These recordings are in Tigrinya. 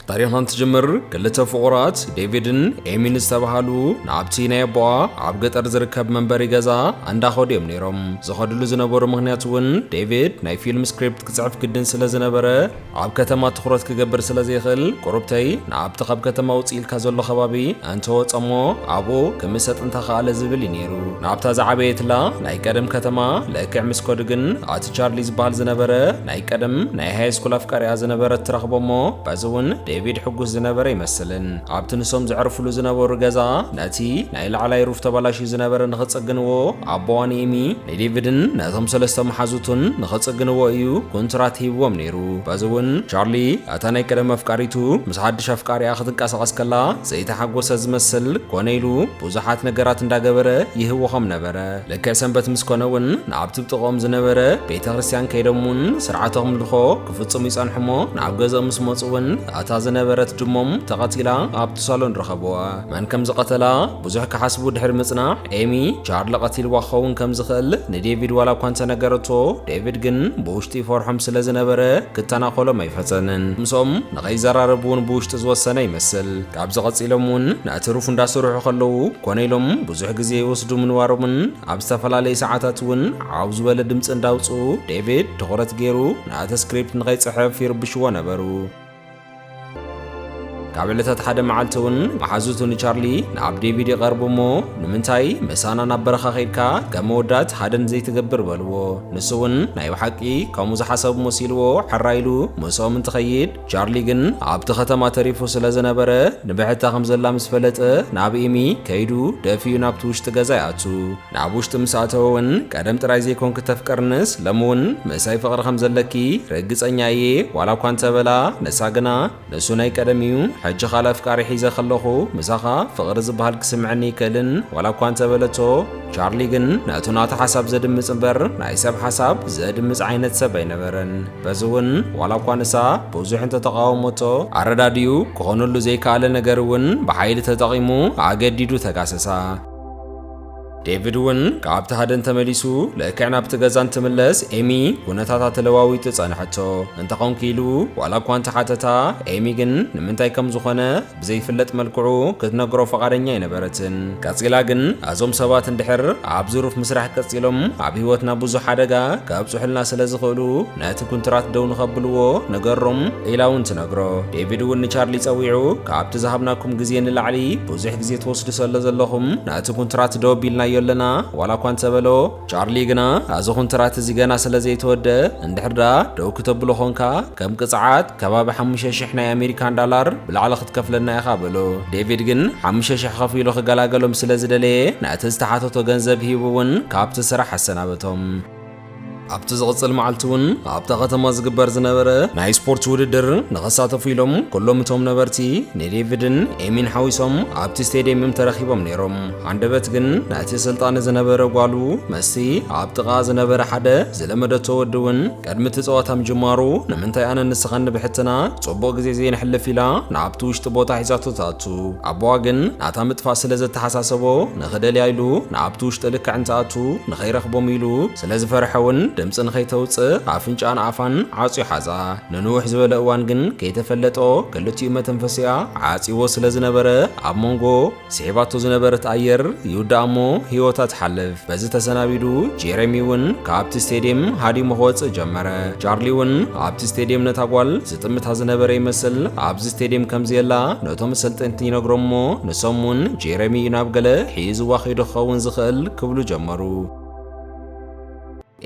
ታሪኻ እንትጅምር ክልተ ፍቑራት ዴቪድን ኤሚን ዝተባሃሉ ንኣብቲ ናይ ኣቦኣ ኣብ ገጠር ዝርከብ መንበሪ ገዛ እንዳኸዱ እዮም ነይሮም። ዝኸድሉ ዝነበሩ ምክንያት እውን ዴቪድ ናይ ፊልም ስክሪፕት ክጽሕፍ ግድን ስለ ዝነበረ ኣብ ከተማ ትኹረት ክገብር ስለ ዘይኽእል ቁሩብተይ ንኣብቲ ካብ ከተማ ውጽእ ኢልካ ዘሎ ከባቢ እንተወጸሞ ኣብኡ ክምሰጥ እንተኸኣለ ዝብል እዩ ነይሩ። ናብታ ዝዓበየትላ ናይ ቀደም ከተማ ልክዕ ምስ ከዱ ግን ቻርሊ ዝበሃል ዝነበረ ናይ ቀደም ናይ ሃይ ስኩል ኣፍቃሪኣ ዝነበረት ትረኽቦ እሞ በዚ እውን ዴቪድ ሕጉስ ዝነበረ ይመስልን ኣብቲ ንሶም ዘዕርፍሉ ዝነበሩ ገዛ ነቲ ናይ ላዕላይ ሩፍ ተባላሽዩ ዝነበረ ንኽጽግንዎ ኣቦዋ ንኤሚ ንዴቪድን ነቶም ሰለስተ መሓዙቱን ንኽጽግንዎ እዩ ኩንትራት ሂብዎም ነይሩ በዚ እውን ቻርሊ እታ ናይ ቀደም ኣፍቃሪቱ ምስ ሓድሽ ኣፍቃሪኣ ክትንቀሳቐስ ከላ ዘይተሓጎሰ ዝመስል ኮነ ኢሉ ብዙሓት ነገራት እንዳገበረ ይህወኾም ነበረ ልክዕ ሰንበት ምስ ኮነ እውን ናብቲ ብጥቕኦም ዝነበረ ቤተ ክርስቲያን ከይዶም እውን ስርዓተ ኣምልኾ ክፍጽሙ ይጸንሑ እሞ ናብ ገዝኦም ምስ መጹ እውን እታ ዝነበረት ድሞም ተቐቲላ ኣብቲ ሳሎን ረኸብዋ። መን ከም ዝቐተላ ብዙሕ ክሓስቡ ድሕሪ ምጽናሕ ኤሚ ቻርሊ ቀቲልዋ ክኸውን ከም ዝኽእል ንዴቪድ ዋላ እኳ እንተነገረቶ ዴቪድ ግን ብውሽጢ ይፈርሖም ስለ ዝነበረ ክተናኾሎም ኣይፈተንን። ምስኦም ንኸይዘራረብ እውን ብውሽጢ ዝወሰነ ይመስል። ካብዚ ቀጺሎም እውን ንእትርፉ እንዳሰርሑ ከለዉ ኮነ ኢሎም ብዙሕ ግዜ ይወስዱ ምንባሮምን ኣብ ዝተፈላለየ ሰዓታት እውን ዓው ዝበለ ድምፂ እንዳውፅኡ ዴቪድ ትኹረት ገይሩ ንእቲ ስክሪፕት ንኸይፅሕፍ ይርብሽዎ ነበሩ። ካብ ዕለታት ሓደ መዓልቲ እውን መሓዙቱ ንቻርሊ ናብ ዴቪድ ይቐርቡ እሞ ንምንታይ ምሳና ናብ በረኻ ከይድካ ከም መወዳት ሃደን ዘይትገብር በልዎ። ንሱ እውን ናይ ብሓቂ ከምኡ ዝሓሰብ መሲልዎ ሕራይ ኢሉ ምስኦም እንትኸይድ ቻርሊ ግን ኣብቲ ከተማ ተሪፉ ስለ ዝነበረ ንብሕታ ከም ዘላ ምስ ፈለጠ ናብ ኤሚ ከይዱ ደፊኡ ናብቲ ውሽጢ ገዛ ይኣቱ። ናብ ውሽጢ ምስ ኣተወ ውን ቀደም ጥራይ ዘይኮንኪ ተፍቅርንስ ሎሚ ውን ምሳይ ፍቕሪ ከም ዘለኪ ርግጸኛ እየ ዋላ እኳ እንተ በላ ንሳ ግና ንሱ ናይ ቀደም እዩ ሕጂ ካልእ ኣፍቃሪ ሒዘ ከለኹ ምሳኻ ፍቕሪ ዝብሃል ክስምዐኒ ኣይክእልን ዋላ እኳ እንተ በለቶ ቻርሊ ግን ነቱ ናታ ሓሳብ ዘድምጽ እምበር ናይ ሰብ ሓሳብ ዘድምጽ ዓይነት ሰብ ኣይነበረን። በዚ እውን ዋላ እኳ ንሳ ብዙሕ እንተተቓወሞቶ፣ ኣረዳዲኡ ክኾነሉ ዘይከኣለ ነገር እውን ብሓይሊ ተጠቒሙ ኣገዲዱ ተጋሰሳ። ዴቪድ እውን ካብቲ ሃደን ተመሊሱ ልክዕ ናብቲ ገዛ እንትምለስ ኤሚ ኩነታታ ተለዋዊጡ ጸንሐቶ። እንተኾንኪ ኢሉ ዋላ እኳ እንተሓተታ፣ ኤሚ ግን ንምንታይ ከም ዝኾነ ብዘይፍለጥ መልክዑ ክትነግሮ ፈቓደኛ ኣይነበረትን። ቀጺላ ግን ኣዞም ሰባት እንድሕር ኣብ ዝሩፍ ምስራሕ ቀጺሎም ኣብ ህይወትና ብዙሕ ሓደጋ ከብጹሑልና ስለ ዝኽእሉ ነቲ ኩንትራት ደው ንኸብልዎ ንገሮም ኢላ እውን ትነግሮ። ዴቪድ እውን ንቻርሊ ጸዊዑ ካብቲ ዝሃብናኩም ግዜ ንላዕሊ ብዙሕ ግዜ ትወስዱ ሰለ ዘለኹም ነቲ ኩንትራት ደው ኣቢልናዮ ኣለና ዋላ እኳ እንተበሎ፣ ቻርሊ ግና ኣዚ ኩንትራት እዚ ገና ስለ ዘይተወድኣ እንድሕር ደኣ ደው ክተብሎ ኾንካ ከም ቅጽዓት፣ ከባቢ ሓሙሽተ ሽሕ ናይ ኣሜሪካን ዳላር ብላዕሊ ክትከፍለና ኢኻ በሎ። ዴቪድ ግን ሓሙሽተ ሽሕ ኸፊሉ ክገላገሎም ስለ ዝደለየ ነቲ ዝተሓተቶ ገንዘብ ሂቡ እውን ካብቲ ስራሕ ኣሰናበቶም። ኣብቲ ዝቕጽል መዓልቲ እውን ኣብታ ከተማ ዝግበር ዝነበረ ናይ ስፖርት ውድድር ንኸሳተፉ ኢሎም ኩሎም እቶም ነበርቲ ንዴቪድን ኤሚን ሓዊሶም ኣብቲ ስቴድየም እዮም ተረኺቦም ነይሮም። ሃንደበት ግን ነቲ ስልጣን ዝነበረ ጓሉ መስቲ ኣብ ጥቓኣ ዝነበረ ሓደ ዝለመደቶ ወዲ እውን ቅድሚ እቲ ጸወታ ምጅማሩ ንምንታይ ኣነን ንስኻን ንብሕትና ጽቡቕ ግዜ ዘይነሕልፍ ኢላ ናብቲ ውሽጢ ቦታ ሒዛቶ ትኣቱ። ኣቦኣ ግን ናታ ምጥፋእ ስለ ዘተሓሳሰቦ ንኽደልያ ኢሉ ናብቲ ውሽጢ ልክዕ እንትኣቱ ንኸይረኽቦም ኢሉ ስለ ዝፈርሐ ውን ድምጺ ንኸይተውጽእ ኣፍንጭኣን ኣፋን ዓጽዩ ሓዛ። ንንውሕ ዝበለ እዋን ግን ከይተፈለጦ ክልቲኡ መተንፈሲኣ ዓጽይዎ ስለ ዝነበረ ኣብ መንጎ ስዒባቶ ዝነበረት ኣየር ይውዳእ እሞ ህይወታ ትሓልፍ። በዚ ተሰናቢዱ ጄሬሚ እውን ካብቲ ስቴድየም ሃዲሙ ክወፅእ ጀመረ። ቻርሊ እውን ኣብቲ ስቴድየም ነታ ጓል ዝጥምታ ዝነበረ ይመስል ኣብዚ ስቴድየም ከምዘየላ ነቶም ሰልጠንቲ ይነግሮም እሞ ንሶም እውን ጄሬሚ እዩ ናብ ገለ ሒዝዋ ከይዱ ክኸውን ዝኽእል ክብሉ ጀመሩ።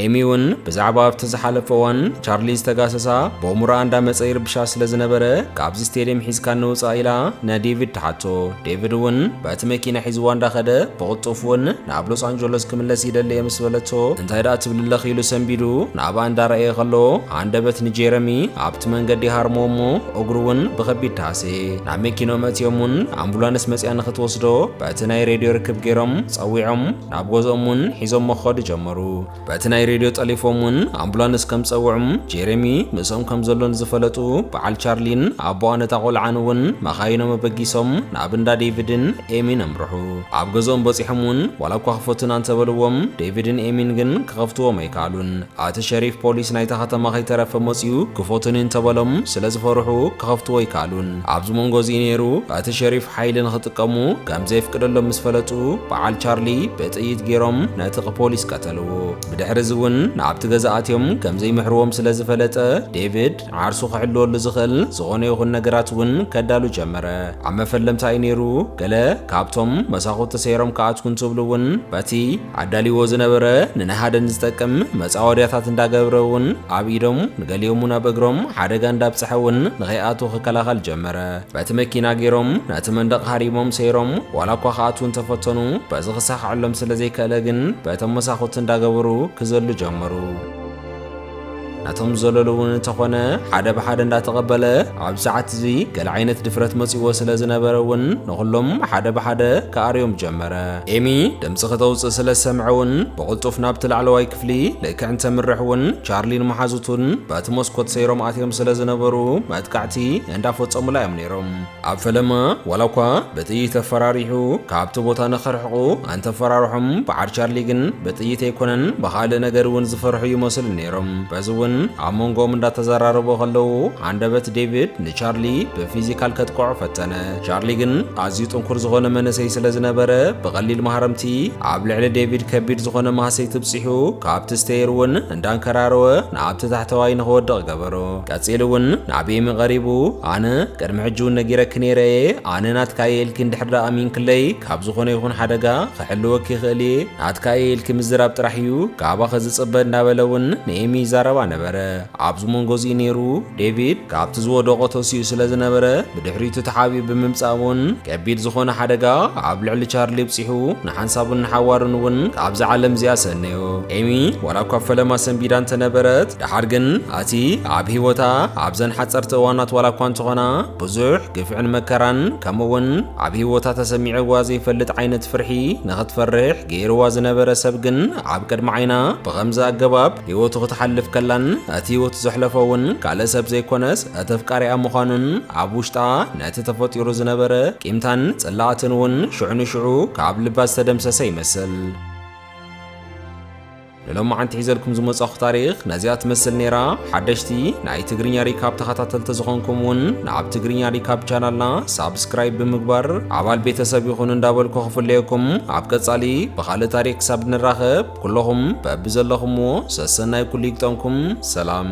ኤሚ እውን ብዛዕባ ኣብቲ ዝሓለፈ እዋን ቻርሊ ዝተጋሰሳ ቦሙራ እንዳመጸ ይርብሻ ስለ ዝነበረ ካብዚ ስቴድየም ሒዝካ ንውጻእ ኢላ ንዴቪድ ትሓቶ። ዴቪድ እውን በቲ መኪና ሒዝዋ እንዳኸደ ብቕልጡፍ እውን ናብ ሎስ ኣንጀሎስ ክምለስ ይደሊ እየ ምስ በለቶ እንታይ ደኣ ትብሊ ኣለኺ ኢሉ ሰንቢዱ ናብኣ እንዳረኣየ ከሎ ሃንደበት ንጄረሚ ኣብቲ መንገዲ ይሃርሞ እሞ እግሩ እውን ብኸቢድ ተሃሰየ። ናብ መኪንኦም ኣእትዮም እውን ኣምቡላንስ መጺኣ ንኽትወስዶ በቲ ናይ ሬድዮ ርክብ ገይሮም ጸዊዖም። ናብ ገዝኦም እውን ሒዞሞ ክኸዱ ጀመሩ። በቲ ናይ ሬድዮ ጠሊፎም እውን ኣምቡላንስ ከም ዝጸውዑም ጄሬሚ ምስኦም ከም ዘሎ ንዝፈለጡ በዓል ቻርሊን ኣቦኣን እታ ቆልዓን እውን መኻይኖም ኣበጊሶም ናብ እንዳ ዴቪድን ኤሚን ኣምርሑ። ኣብ ገዝኦም በጺሖም እውን ዋላ እኳ ክፈቱና እንተበልዎም ዴቪድን ኤሚን ግን ክኸፍትዎም ኣይከኣሉን። እቲ ሸሪፍ ፖሊስ ናይታ ከተማ ከይተረፈ መጺኡ ክፈቱኒ እንተበሎም ስለ ዝፈርሑ ክኸፍትዎ ኣይከኣሉን። ኣብዚ መንጎ እዚ ነይሩ እቲ ሸሪፍ ሓይሊ ንኽጥቀሙ ከም ዘየፍቅደሎም ምስ ፈለጡ በዓል ቻርሊ ብጥይት ገይሮም ነቲ ፖሊስ ቀተልዎ። ብድሕሪ እዚ እውን ናብቲ ገዛ ኣትዮም ከም ዘይምሕርዎም ስለ ዝፈለጠ ዴቪድ ዓርሱ ክሕልወሉ ዝኽእል ዝኾነ ይኹን ነገራት እውን ከዳሉ ጀመረ። ኣብ መፈለምታ እዩ ነይሩ፣ ገለ ካብቶም መሳኹቲ ሰይሮም ክኣትዉ እንትብሉ እውን በቲ ኣዳልይዎ ዝነበረ ንነሃደን ዝጠቅም መጻወድያታት እንዳገብረ እውን ኣብ ኢዶም ንገሊኦም እውን ኣብ እግሮም ሓደጋ እንዳብጽሐ እውን ንኸይኣትዉ ክከላኸል ጀመረ። በቲ መኪና ገይሮም ነቲ መንደቕ ሃሪሞም ሰይሮም ዋላ እኳ ክኣትዉ እንተፈተኑ በዚ ክሳኸዐሎም ስለዘይከእለ ግን በቶም መሳኹቲ እንዳገበሩ ክዘሉ ጀመሩ። ናቶም ዘለሉ እውን እንተኾነ ሓደ ብሓደ እንዳተቐበለ ኣብ ሰዓት እዚ ገለ ዓይነት ድፍረት መጺዎ ስለ ዝነበረ እውን ንኹሎም ሓደ ብሓደ ክኣርዮም ጀመረ። ኤሚ ድምፂ ክተውፅእ ስለ ዝሰምዐ እውን ብቕልጡፍ ናብቲ ላዕለዋይ ክፍሊ ልክዕ እንተምርሕ እውን ቻርሊን መሓዙቱን በቲ መስኮት ሰይሮም ኣትዮም ስለ ዝነበሩ መጥቃዕቲ እንዳፈፀሙላ እዮም ነይሮም። ኣብ ፈለማ ዋላኳ ብጥይት ኣፈራሪሑ ካብቲ ቦታ ንኸርሕቑ ኣንተፈራርሖም በዓል ቻርሊ ግን ብጥይት ኣይኮነን ብኻልእ ነገር እውን ዝፈርሑ ይመስሉ ነይሮም። በዚ እውን ኣብ መንጎኦም እንዳተዘራረቡ ከለዉ ሃንደበት ዴቪድ ንቻርሊ ብፊዚካል ከጥቅዖ ፈተነ። ቻርሊ ግን ኣዝዩ ጥንኩር ዝኾነ መንእሰይ ስለ ዝነበረ ብቐሊል ማህረምቲ ኣብ ልዕሊ ዴቪድ ከቢድ ዝኾነ ማህሰይቲ ብፂሑ ካብቲ ስተየር እውን እንዳንከራረወ ናብቲ ታሕተዋይ ንኽወድቕ ገበሮ። ቀጺሉ እውን ናብይሚ ቐሪቡ ኣነ ቅድሚ ሕጂ እውን ነጊረኪ ነይረ እየ ኣነ ናትካ እየ ኢልኪ እንድሕር ደኣ ኣሚንክለይ ካብ ዝኾነ ይኹን ሓደጋ ክሕልወኪ ይኽእል እየ ናትካ እየ ኢልኪ ምዝራብ ጥራሕ እዩ ካባኸ ዝጽበ እንዳበለ እውን ንኤሚ ይዛረባ ነበረ ኣብዚ መንጎ እዚኡ ነይሩ ዴቪድ ካብቲ ዝወደቖ ተሲኡ ስለ ዝነበረ ብድሕሪቱ ተሓቢኡ ብምምጻእ እውን ከቢድ ዝኾነ ሓደጋ ኣብ ልዕሊ ቻርሊ ብጺሑ ንሓንሳቡን ንሓዋሩን እውን ካብዛ ዓለም እዚኣ ሰነዮ ኤሚ ዋላ እኳ ፈለማ ሰንቢዳ እንተነበረት ደሓር ግን ኣቲ ኣብ ህይወታ ኣብዘን ሓጸርቲ እዋናት ዋላ እኳ እንተኾና ብዙሕ ግፍዕን መከራን ከምኡውን ኣብ ህይወታ ተሰሚዕዋ ዘይፈልጥ ዓይነት ፍርሒ ንኽትፈርሕ ገይርዋ ዝነበረ ሰብ ግን ኣብ ቅድሚ ዓይና ብኸምዚ ኣገባብ ህይወቱ ክትሓልፍ ከላን እቲ ህይወቱ ዘሕለፎ እውን ካልእ ሰብ ዘይኮነስ እቲ ኣፍቃሪኣ ምዃኑን ኣብ ውሽጣ ነቲ ተፈጢሩ ዝነበረ ቂምታን ጽላኣትን እውን ሽዑ ንሽዑ ካብ ልባ ዝተደምሰሰ ይመስል። ንሎማዓንቲ ሒዘልኩም ዝመጻኹ ታሪኽ ነዚኣ ትመስል ነይራ። ሓደሽቲ ናይ ትግርኛ ሪካብ ተኸታተልቲ ዝኾንኩም እውን ንኣብ ትግርኛ ሪካብ ቻናልና ሳብስክራይብ ብምግባር ኣባል ቤተሰብ ይኹኑ እንዳበልኩ ክፍለየኩም ኣብ ቀጻሊ ብኻልእ ታሪኽ ክሳብ ንራኸብ ኩለኹም በብዘለኹምዎ ሰሰናይ ኩሉ ይግጠምኩም። ሰላም።